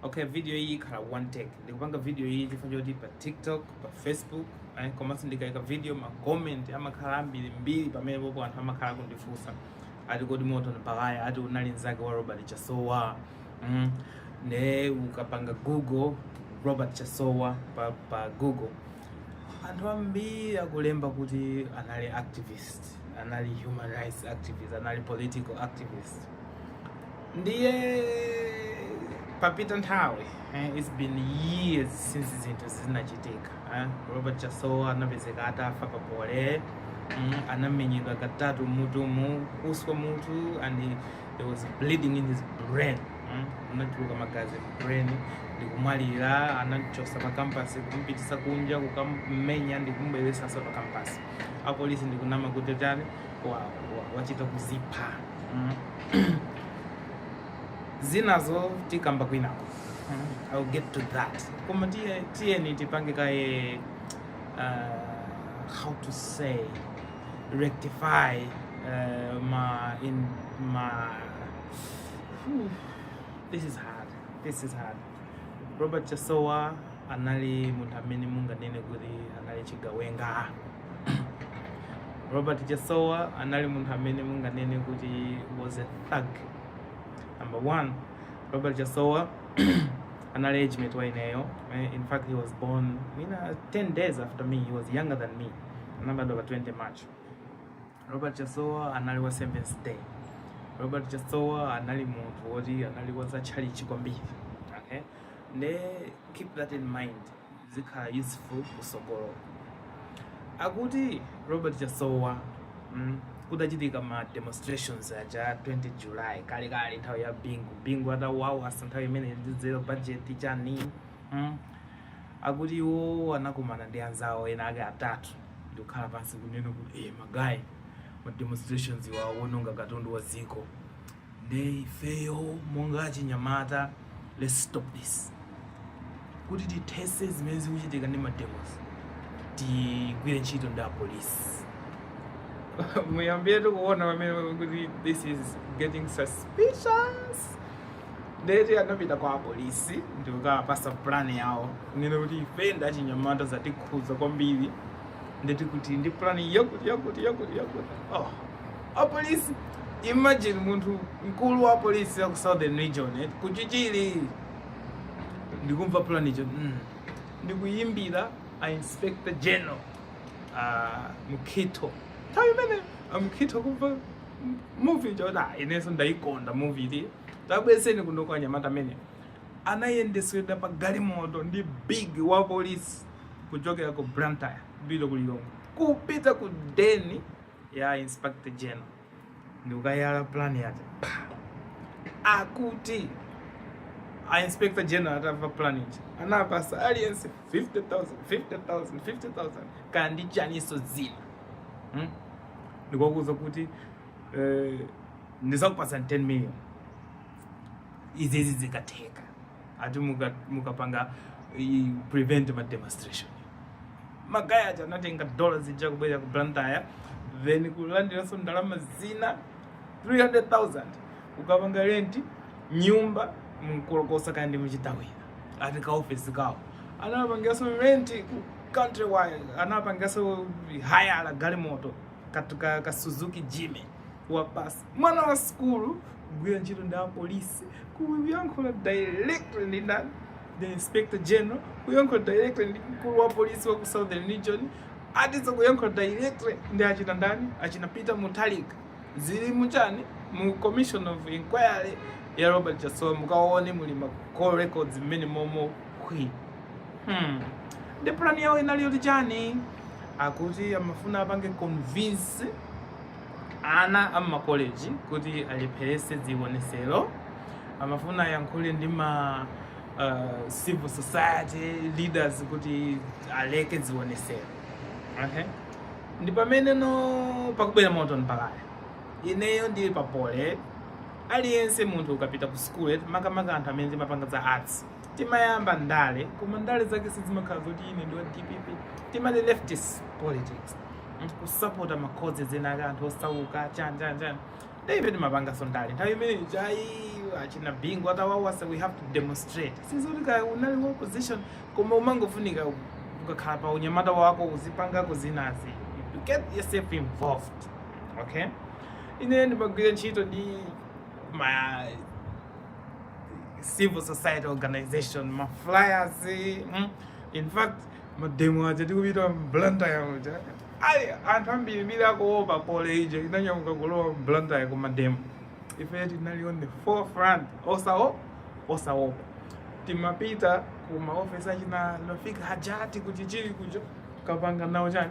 okay video iyi ikhala one take ndikupanga video iyi chifukwa choti pa tiktok pa facebook eh, komanso ndikaika video ma comment amakhala ambiri mbiri pamene popo anthu amakhala kundifunsa ati kodi Morton Baghaya ati unali nzake wa robert chasowa mm. ne ukapanga google robert chasowa pa, pa google anthu ambiri akulemba kuti anali activist anali human rights activist anali political activist ndiye papita nthawi eh, it's been years since zinthu zinachitika eh. robert chasowa anapezeka atafa pa poly mm, anamenyedwa katatu mutumu kuswa mutu and he- there was bleeding in his brain mm, anachulukana magazi mu brain ndikumwalira anamuchosa pa campus kumpitisa kunja kukammenya ndikumbwezeraso pa campus apolisi ndikunama kuti tani wachita kuzipha mm. zinazo tikamba kwinako mm. I'll get to that koma tiyeni tipange kaye uh, how to say rectify uh, ma in ma this is hard this is hard Robert Chasowa anali munthu amene munganene kuti anali chigawenga. Robert Chasowa anali munthu amene munganene kuti was a thug. Number one, Robert Chasowa anali age mate wa ineyo. Eh, In fact, he was born mwina 10 days after me. He was younger than me. Anabadwa pa 20 March. Robert Chasowa anali wa Seventh Day. Robert Chasowa anali munthu woti anali wa za tchalitchi kwambiri. Okay? Nde keep that in mind. Zikhala useful kusogolo. Akuti Robert Chasowa mm, kutachitika ma demonstrations aja 20 July kale kale nthawi ya Bingu. Bingu atavutavutitsa nthawi imene ija ndi zero budget chani. Mm. akuti iwo anakomana ndi anzawo ena ake atatu ndikukhala pansi kunena kuti eh magayi ma demonstrations awa awononga katundu wa dziko nde ifeyo monga achinyamata let's stop this kuti tithese zimene zikuchitika ndi mademos tigwire ntchito ndi apolisi muyambiretu kuona pamene kuti this is getting suspicious ndeti anapita kwa apolisi ndikukawapasa pulani yawo kunena kuti ife ndi achinyamata zatikhuza kwambiri nde tili ndi pulani yakuti yakuti yakuti yakuti oh. apolisi imagine munthu mkulu wa apolisi ya ku southern region eh, kuchichiri ndikumva pulani ija mm. ndikuyimbira a inspector general uh, mkhitho nthawi imene amkhitho kumva muvi chota inenso ndayikonda muvi iti tabwezeni kuno kwa anyamata amene anayendesedwa pa galimoto ndi big wa polisi kuchokera ku blantyre kupita ku lilongwe kupita ku deni ya inspector general ndikukayala plan yace akuti a inspector general atamva plan ija anapasa aliyense 50000 50000 50000 kaya ndi chaniso zina hmm? ndikuwauza kuti eh, ndizakupatsani 10 million izi izi zikatheka ati muka- mukapanga i- prevent ma demonstration magaya aja anatenga dola zija kubwera ku blantyre then kulandiranso ndalama zina 300000 kukapanga renti nyumba mu nkolokosa kaya ndi mu chitawira ati ka ofesi kawo anapangiranso renti ku countrywide anapangaso hayala galimoto katu ka, ka suzuki jimmy wa basi mwana wa skulu kugwira ntchito ndi apolisi kuyankhula directly ndi ndani the inspector general kuyankhula directly ndi mkulu wa polisi wa ku southern region atizo kuyankhula directly ndi achina ndani achina peter mutharika zili mu chani mu commission of inquiry ya robert chasowa mukaone muli ma call records mmene momo Hwi. Hmm. Ndi plan yawo inali yoti chani? Akuti amafuna apange convince ana a makoleji kuti alepherese zionesero. Amafuna ayankhule ndi ma uh, civil society leaders kuti aleke zionesero. Okay? Ndi pamene no pakubwera moto mpakaya. Ineyo ndili pa poly aliyense munthu ukapita ku school makamaka anthu amene timapanga za arts timayamba ndale koma ndale zake sizimakhala zoti ine ndi wa dpp timati leftist politics Mm, kusapota ma causes ena ake anthu osauka chani chani chani nde ife timapangaso ndale nthawi imene ijayi achina bingu atawawasa we have to demonstrate sizoti kaya unali wa opposition koma umangofunika ukakhala pa unyamata wako uzipangako zinazi you get yourself involved okay ine ndimagwira ntchito ndi ma civil society organization ma flyers mm? in fact mademo aja tikupita mblantaya aja ayi anthu ambirimbiri akuopa poly ija inanyamuka kulowa mblantaya ku mademo ife tinali on the forefront osawo osaopa timapita ku maofesi achina rafiq hajat ku chichiri kuja kukapanga nawo chani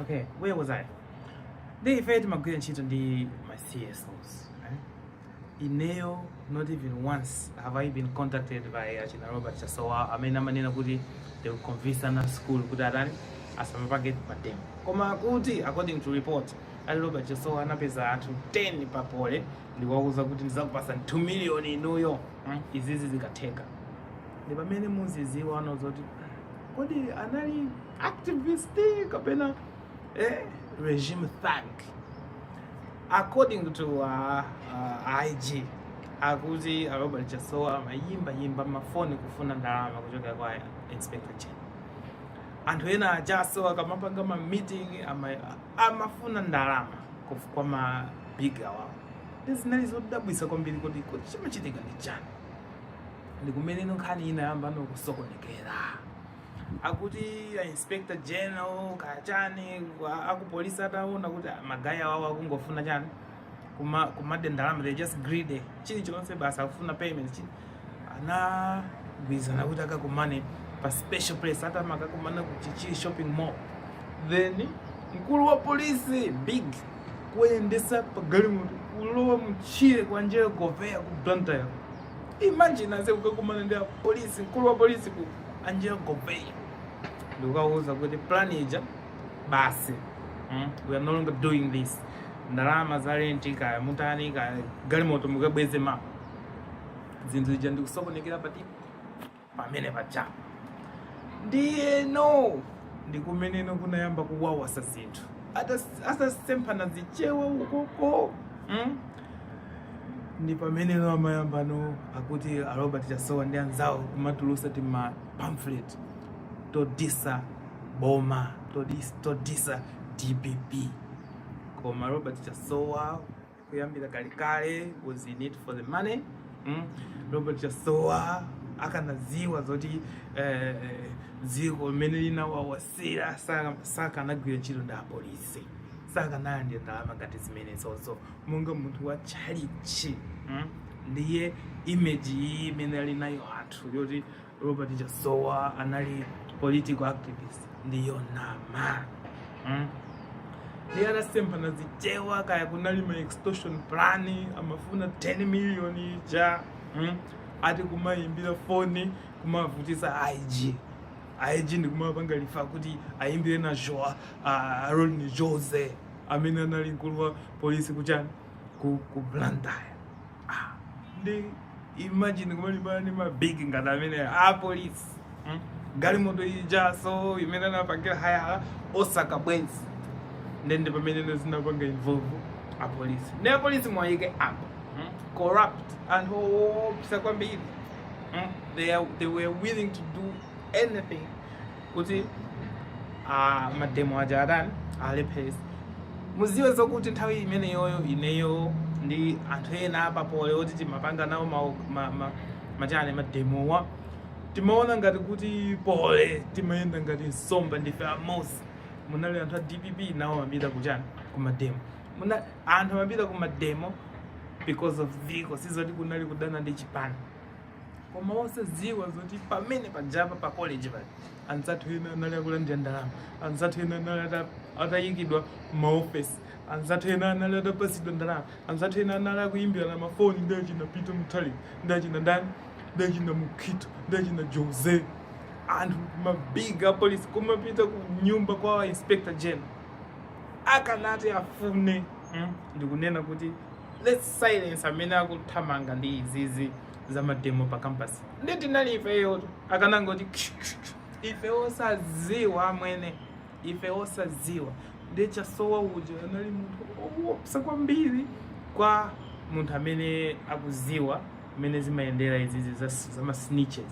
Okay, where was I? Ndi ife timagwira ntchito ndi ma CSOs. Eh? Ineo, not even once have I been contacted by achina Robert Chasowa amene amanena kuti they will convince ana a school kuti atani asamapange mademo. Koma akuti according to report ali Robert Chasowa anapeza anthu 10 pa Poly ndikuwauza kuti ndizakupasa 2 million inuyo mm? izizi zikatheka. Ndi pamene muziziwa no zoti kodi anali activist kapena eh, regime thug according to uh, uh, ig akuti uh, robert chasowa amayimba yimba mafoni kufuna ndalama kuchokera kwa inspector general anthu ena a chasowa akamapanga ma meeting ama- amafuna ndalama kuf- kwa ma big awawo zinali zodabwisa kwambiri kodi kodi chimachitika ndi chani ndi kumene no nkhani inayamba no kusokonekera akuti a inspector general kachani wa- akupolisi ataona kuti ah, magayi awawo akungofuna chani kuma kumadya ndalama they just greedy chili chonse basi akufuna payment chi anagwirizana kuti akakumane pa special place atama akakumana ku chichiri shopping mall then mkulu wa polisi big kuyendesa pa galimoto kulowa mchire kwa angelo goveya ku blantyre imagine ase kukakumana ndi apolisi mkulu wa polisi ku angelo goveya ndikukawauza kuti plan ija basi mm? we are no longer doing this ndalama za renti kaya mutani kaya galimoto mukabweze ma zinthu ija ndikusokonekera pati pamene paja ndiye no ndikumeneno kunayamba kuwawasa zinthu Atas- atasemphana zichewa ukoko mm? ndi pamene no amayamba no akuti a Robert Chasowa ndi anzawo kumatulusa ti ma pamphlet todisa boma todis, todisa DPP koma Robert Chasowa kuyambira kalekale was in it for the money mm? Robert Chasowa akanaziwa zoti eh, eh, dziko limene linawawasira saka- sakanagwira ntchito ndi apolisi sakanalandira ndalama ngati zimenezozo monga munthu wa tchalitchi mm? ndiye image iyi imene ali nayo anthu yoti robert chasowa anali political activist ndiyonama mm? ndiye anasemphana zichewa kaya kunali ma extortion plan amafuna 10 million ija mm? ati kumayimbira foni kumavutisa ig ig ndikumapanga refer kuti ayimbire najoa uh, rodney jose amene anali mkulu wa polisi kuchani, ku ku Blantyre ah, nde imagine kumalimbana ndi mabig ngati amenewa apolisi hmm? galimoto ijaso imene anapangira hayala osaka bwenzi nde nde pamene zinapanga involve apolisi nde apolisi muwayike apo hmm? corrupt anthu oopsa kwambiri hmm? they, are, they were willing to do anything kuti ah, mademo aja atani alepherese muziwe zokuti nthawi imeneyoyo ineyo ndi anthu ena apa Poly oti timapanga nawo ma- ma- ma- machane mademowa timaona ngati kuti Poly timayenda ngati nsomba ndife amozi munali anthu a dpp nawo amapita ku chani kumademo Muna, anthu amapita kumademo because of dziko sizoti kunali kudana ndi chipani koma osadziwa zoti pamene pajapa pa college pali anzathu ena anali akulandira ndalama anzathu ena anali ata- atayikidwa maofesi anzathu ena anali atapasidwa ndalama anzathu ena anali akuyimbilana mafoni ndi achina Peter Mutharika ndi achina ndani ndi achina mukhito ndi achina jose anthu mabig apolisi kumapita ku nyumba kwa inspector general akanati afuna mm, ndikunena kuti let's silence amene akuthamanga ndi izizi za mademo pa campus ndi tinali ifeyo akanangoti ife osaziwa amwene ife osaziwa ndi chasowa uja anali munthu owopsa kwambiri kwa munthu amene akuziwa mmene zimayendera izizi za, za masnitches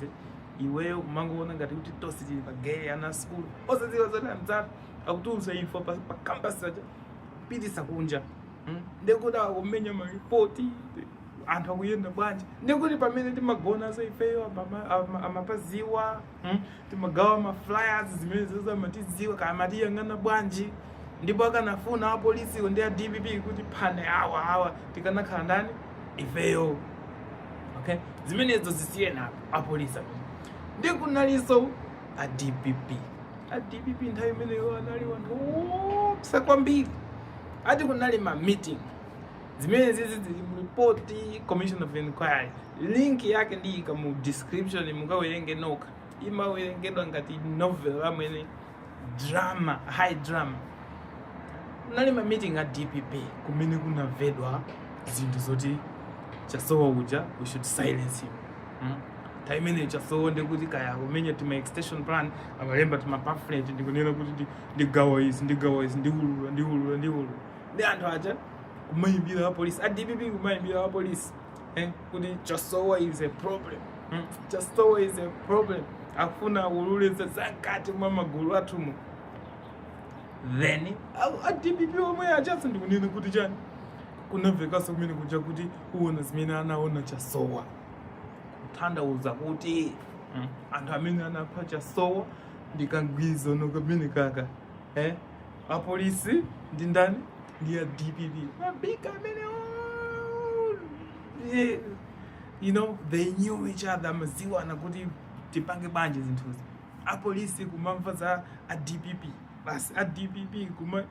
iweyo umangoona ngati kuti tonse tili pa geyi ana skulu osaziwa zoti anzathu akutulusa info pa, pa campus akupitisa kunja Hmm? ndekuti akumenya maripoti anthu akuyenda bwanji ndekuti pamene timagonanso ifeyo amama- ama- amapaziwa hmm? timagawa maflyers zimenezozo amatiziwa kaya amatiyang'ana bwanji ndipo akanafuna apolisiwo ndi a dpp kuti tiphane awa awa tikanakhala ndani ifeyo okay zimenezo zisiyeni apo apolisi amene ndi kunalinso a dpp a dpp nthawi imeneyo anali anthu oopsa kwambiri ati kunali ma meeting zimene zizi zili mu report commission of inquiry link yake ndiyika mu description mukawerenge nokha imawerengedwa ngati novel amwene drama high drama kunali ma meeting a dpp kumene kunamveka zinthu zoti chasowa uja we should silence him mm? time imeneyo chasowa ndekuti kaya kumenya tima extension plan amalemba tima pamphlet ndikunena kuti ndi ndi gawo izi ndi gawo izi ndi ululu ndi ululu ndi ululu ndi anthu aja kumayimbira apolisi a dpp kumayimbira apolisi eh, kuti chasowa is a problem mm. chasowa is a problem akufuna aululitse zakati mwa magulu athuwu then a- a dpp omwe ajatu ndikunena kuti chani kunamvekanso kumene kuja kuti ukaona zimene anaona chasowa kutanthauza kuti mm, anthu amene anapha chasowa ndi kagwirizano kamene kaja eh? apolisi ndi ndani ndi a dpp mabiga amenewo Eh, you know they knew each other amaziwana kuti tipange bwanji zinthuzi apolisi kumamva za a dpp basi a dpp kuma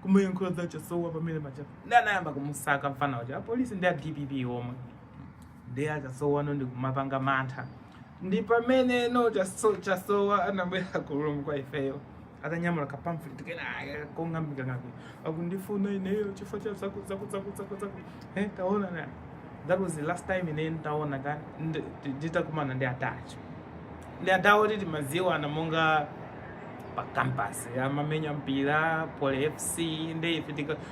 kumayankhula za chasowa pamene paja nde anayamba kumusaka mfana uja apolisi ndi a dpp omwe ndiye a chasowano ndikumapanga mantha ndi pameneno chaso- chasowa anabwera kunyumba kwa ifeyo atanyamula ka pamphlet kenakake kong'ambika ng'ambi akundifuna ineyo chifukwa cha zaku zaku zaku zaku zaku eh taona na that was the last time ine ntaona ka ndi- ndi- nditakumana ndi atacho ndi atawo titi maziwana monga pa campus amamenya mpira poly fc ndi ife tika-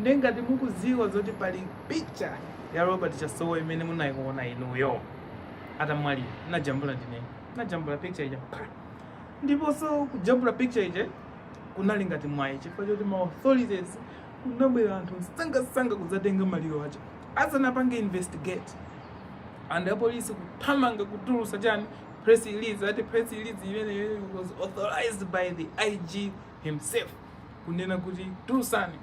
nde ngati mukuziwa zoti pali picture ya robert chasowa imene munaiona inuyo atamwalira najambula ndine najambula picture ija pa- ndiponso kujambula picture ija kunali ngati mwayi chifukwa choti ma authorities kunabwera anthu msangasanga kuzatenga maliro aja asanapange investigate nde apolisi kuthamanga kutulusa chani press release ati press release imeneyo was authorized by the ig himself kunena kuti tulusani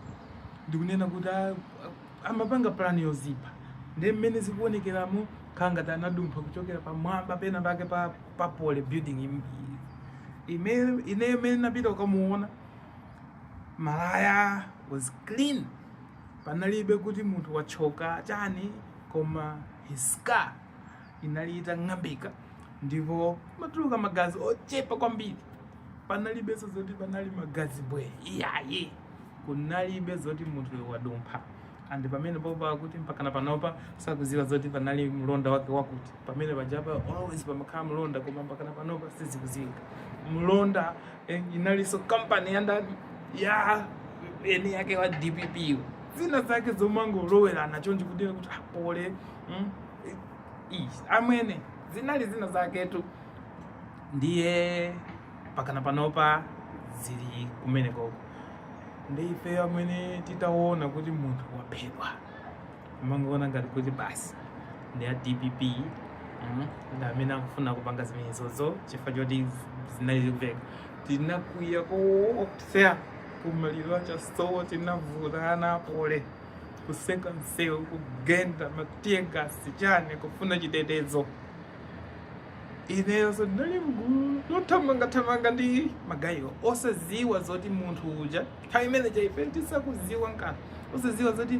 ndikunena kuti a- a- amapanga plan yozipha ndi mmene zikuonekeramo kukhala ngati anadumpha kuchokera pamwamba pena pake pa, pa poly building im- i- ime- ine imene napita ukamuona malaya was clean panalibe kuti munthu wathyoka chani koma his skull inali itang'ambika ndipo amatuluka magazi ochepa kwambiri panalibenso zoti panali magazi mbwee iyayi kunalibe zoti munthu wadumpha and pamenepopa kuti mpakana panopa sakuziwa zoti panali mlonda wakewake woti pamene pajapa always pamakhala mlonda koma mpakana panopa sizikuziwika mlonda Eh, inalinso kampani ya ndani ya eni ake a dpp yo. zina zake zomangolowerana chonchi kuti kuti a poly mm, eh, ii, amwene zinali zina zaketu ndiye mpakana panopa zili kumenekoko ndi ife amene titaona kuti munthu waphedwa Amangoona ngati kuti basi ndi a dpp mm, ndi amene akufuna kupanga zimenezozo chifukwa choti zinali zikuveka tinakwiya koopsa kumaliro a Chasowa tinavutana pole kutseka msewu kugenda matiyegasi chani kufuna chitetezo inenso ndinali mgulu lothamangathamanga ndi magayiwo osaziwa zoti munthu uja nthawi imeneija ife tisakuziwa nkanthu osaziwa zoti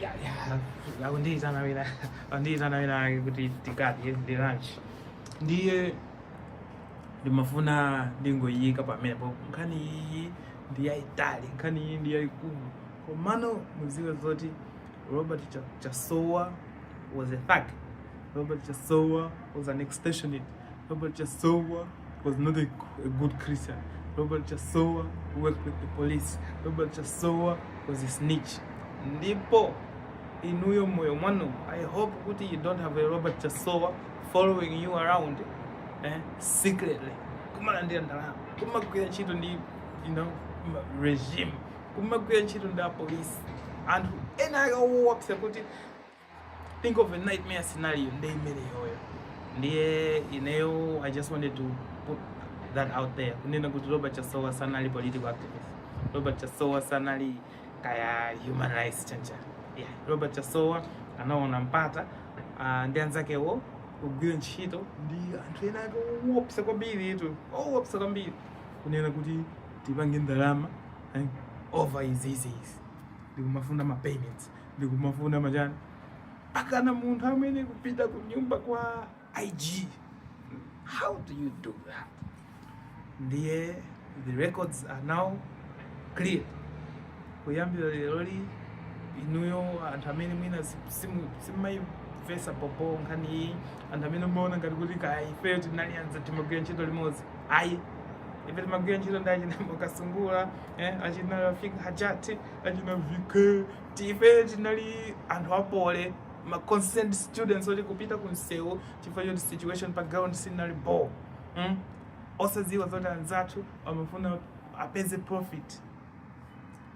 Ya, ya, akundiitana wina akundiitana wina kuti tikadye lunch ndiye ndimafuna ndingoyika pamenepo nkhani iyi ndi yayitali nkhani iyi ndi yayikulu komano muziwe zoti Robert Chasowa was a thug. Robert Chasowa was an extortionist. Robert Chasowa was not a, a good Christian. Robert Chasowa worked with the police. Robert Chasowa was a snitch. Ndipo inuyo moyo mwanu. I hope kuti you don't have a Robert Chasowa following you around eh, secretly. Kumalandira ndalama. Kumagwira ntchito ndi you know, regime. kumagwira ntchito ndi apolisi anthu ena ake owopsa kuti think of a nightmare scenario ndi imeneyoyo ndiye ineyo i just wanted to put that out there kunena kuti robert chasowa sanali political activist robert chasowa sanali kaya human rights chanichani robert chasowa anaona mpata uh, ndi anzakewo kugwira ntchito ndi anthu ena ake owopsa kwambiritu owopsa kwambiri kunena kuti tipange ndalama eh, over izi izi izi n'kumafuna ma payments n'kumafuna machani pakana munthu amene akupita ku nyumba kwa IG how do you do that ndiye the records are now clear kuyambira leroli inuyo anthu amene mwina simumayimvesa bobo nkhani iyi anthu amene mumaona ngati kuti kaya ifeyo tinali anza timagwira ntchito limodzi ayi ife timagwira ntchito ndi achina Mwakasungula eh, achina rafik hajati achina vike ife tinali anthu apole ma concerned students oti kupita ku msewu chifukwa choti situation pa ground sinali bo mm? osadziwa zoti anzathu amafuna apeze profit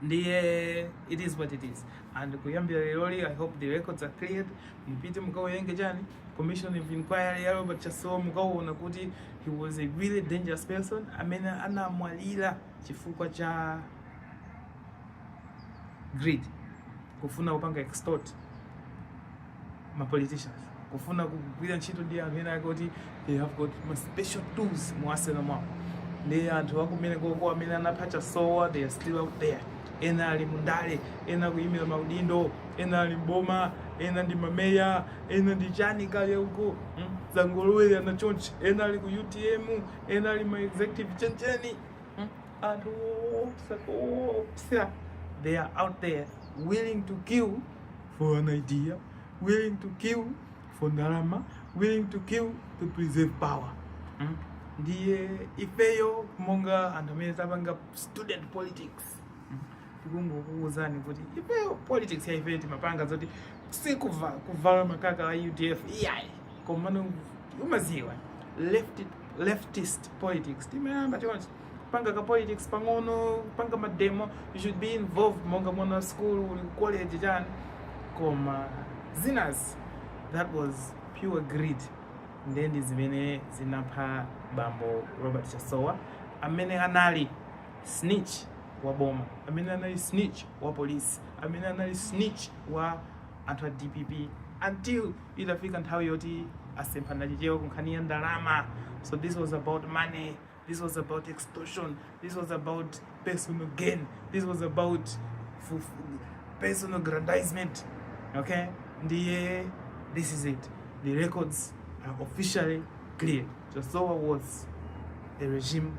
ndiye it is what it is and kuyambira leroli i hope the records are cleared mupite mukawerenge chani commission of inquiry ya robert chasowa mukawona kuti he was a very dangerous person amene anamwalira chifukwa cha greed kufuna kupanga extort ma politicians kufuna kugwira ntchito ndi anthu ena ake oti they have got ma special tools mu arsenal mwawo ndi anthu akumeneko amene anapha chasowa they are still out there ena ali mundale ena akuyimira maudindo ena ali mboma ena ndi mameya ena ndi chani kaya uko hmm? zangolowerana chonchi ena ali ku utm ena ali ma executive chanichani hmm? anthu oopsa koopsa they are out there willing to kill for an idea willing to kill for ndalama willing to kill to preserve power hmm? ndiye ifeyo monga anthu amene tapanga student politics tikungokuwuzani kuti ifeyo politics ya ifeyo timapanga zoti sikuvala makaka a udf iyayi komano umaziwa leftist politics timayamba chonchi panga ka politics pang'ono panga mademo you should be involved monga mwana wa school uli ku college chani koma zinazi that was pure greed nde ndi zimene zinapha bambo robert chasowa amene anali snitch wa boma, amene anali snitch wa police, amene anali snitch wa anthu a dpp until itafika nthawi yoti asemphana chichewa kunkhani ya ndalama. So this was about money, this was about extortion, this was about personal gain, this was about personal aggrandizement. Okay, ndiye this is it. The records are officially cleared. Chasowa was a regime